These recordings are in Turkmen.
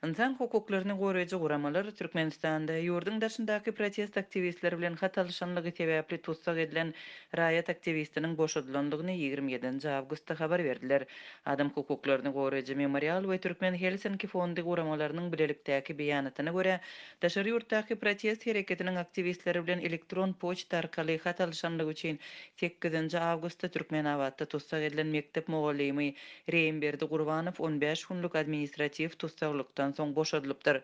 Ynsan hukuklaryny goraýjy guramalar Türkmenistanda ýurduň daşyndaky protest aktiwistleri bilen hat alyşanlygy sebäpli tussag edilen raýat aktiwistiniň boşadylandygyny ýigrimi ýedinji awgustda habar berdiler. Adam hukuklaryny goraýjy Memorial we Türkmen Helsinki fondy guramalarynyň bilelikdäki beýanatyna görä, daşary ýurtdaky protest hereketiniň aktiwistleri bilen elektron poçta arkaly hat alyşanlygy üçin sekizinji awgustda Türkmenabatda tussag edilen mekdep mugallymy Reýimberdi Gurbanow on bäş günlük administratiw tussaglykdan soň boşadylypdyr.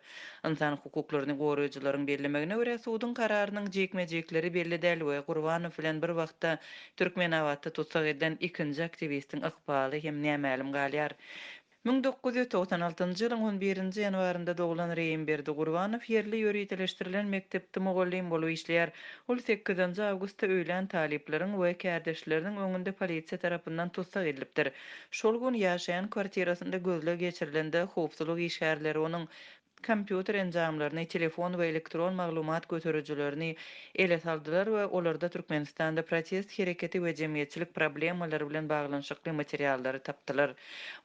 Ynsan hukuklaryny goraýjylaryň bellemegine görä, suduň kararynyň jikme-jikleri belli däl we Gurbanow bilen bir wagtda Türkmenabatda tussag edilen ikinji aktiwistiň ykbaly hem nämälim galýar. Müň dokuz ýüz togsan altynjy ýylyň on birinji ýanwarynda doglan Reýimberdi Gurbanow ýerli ýöriteleşdirilen mekdepde mugallym bolup işleýär. Ol sekizinji awgustda öýlän talyplaryň we kärdeşleriniň öňünde polisiýa tarapyndan tussag edilipdir. Şol gün ýaşaýan kwartirasynda gözleg geçirilende howpsuzlyk işgärleri onuň kompýuter enjamlaryny, telefon we elektron maglumat göterijilerini ele saldylar we olarda Türkmenistanda protest hereketi we jemgyýetçilik problemalary bilen baglanyşykly materiallary tapdylar.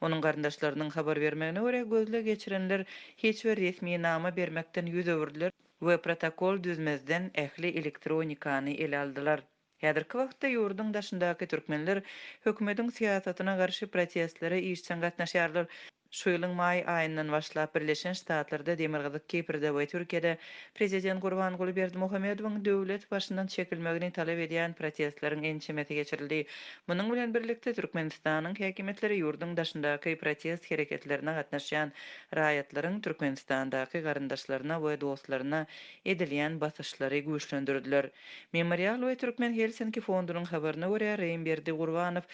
Onuň garyndaşlarynyň habar bermegine görä, gözleg geçirenler hiç bir resminama bermekden ýüz öwürdiler. we protokol düzmezden ähli elektronikany ele aldylar. Häzirki wagtda ýurduň daşyndaky türkmenler hökümetiň syýasatyna garşy protestlere işjeň gatnaşýarlar. Şu ýylyň maý aýyndan başlap Birleşen Ştatlarda, Demirgazyk Kiprde we Türkiýede prezident Gurbanguly Berdimuhamedowyň döwlet başyndan çekilmegini talap edýän protestleriň ençemesi geçirildi. Munuň bilen birlikde Türkmenistanyň häkimiýetleri ýurduň daşyndaky protest hereketlerine gatnaşýan raýatlaryň Türkmenistandaky garyndaşlaryna we dostlaryna edilýän basyşlary güýçlendirdiler. Memorial we Türkmen Helsinki fondunyň habaryna görä, Reýmberdi Gurbanow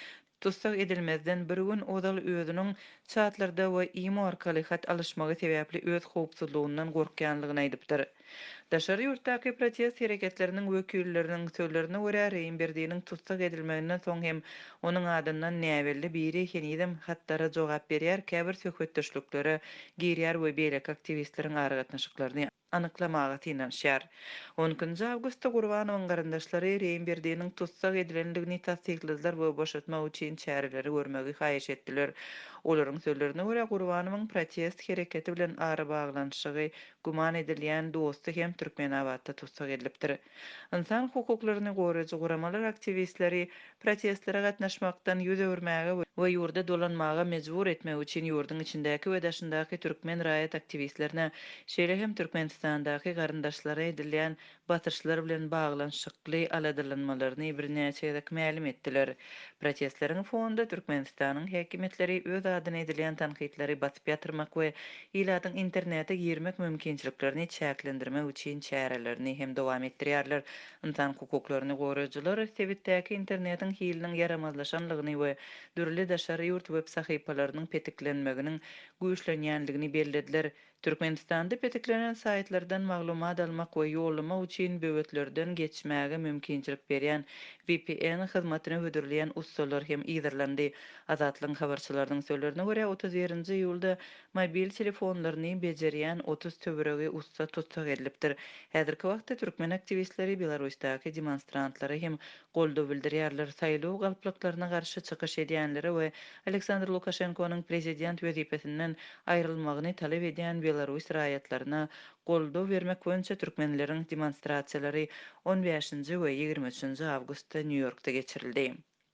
tussag edilmezden bir gün ozal özüniň çatlarda we imo arkaly hat alyşmagy sebäpli öz howpsuzlygyndan gorkýanlygyny aýdypdyr. Daşary ýurtdaky protest hereketleriniň wekilleriniň sözlerine görä, Reýnberdiniň tussag edilmeginden soň hem onuň adyndan näbelli biri henizem hatlara jogap berýär, käbir söhbetdeşliklere girýär we beýleki aktiwistleriň aragatnaşyklaryny anyklamaga synanyşýar. On ikinji awgustda Gurbanowyň garyndaşlary Reýnberdiniň tussag edilendigini tassykladylar we boşatmak üçin çäreleri görmegi haýyş etdiler. Olaryň sözlerine görä, Gurbanowyň protest hereketi bilen arabaglanyşygy güman edilýän dosty hem Türkmenabatda tussag edilipdir. Ynsan hukuklaryny goraýjy guramalar aktiwistleri protestlere gatnaşmakdan ýüz öwürmäge we ýurda dolanmaga mejbur etmek üçin ýurduň içindäki we daşyndaky türkmen raýat aktiwistlerine, şeýle hem Türkmenistandaky garyndaşlaryna edilýän basyşlar bilen baglanyşykly aladalanmalaryny birnäçe gezek mälim etdiler. Protestleriň fonunda Türkmenistanyň häkimiýetleri öz adyna edilýän tankytlary basyp ýatyrmak we ilatyň internete girmek mümkinçiliklerini çäklendirmek üçin çärelerini hem dowam etdirýärler. Ynsan hukuklaryny goraýjylar sebitdäki internetiň hiliniň ýaramazlaşanlygyny we dürli daşary ýurt web sahypalarynyň petiklenmeginiň güýçlenýänligini bellediler. Türkmenistanda petiklenen saýtlardan maglumat almak we ýollamak üçin böwetlerden geçmäge mümkinçilik berýän vpn hyzmatyny hödürleýän ussalar hem yzarlandy. Azatlygyň habarçylarynyň sözlerine görä, otuz birinji iýulda mobil telefonlaryny bejerýän otuz töweregi ussa tussag edilipdir. Häzirki wagtda türkmen aktiwistleri Belarusdaky demonstrantlara hem goldaw bildirýärler, saýlaw galplyklaryna garşy çykyş edýänlere we Aleksandr Lukaşenkonyň prezident wezipesinden aýrylmagyny talap edýän belarus raýatlaryna goldaw bermek boýunça türkmenleriň demonstrasiýalary on bäşinji we ýigrimi üçünji awgustda Nýu-Ýorkda geçirildi.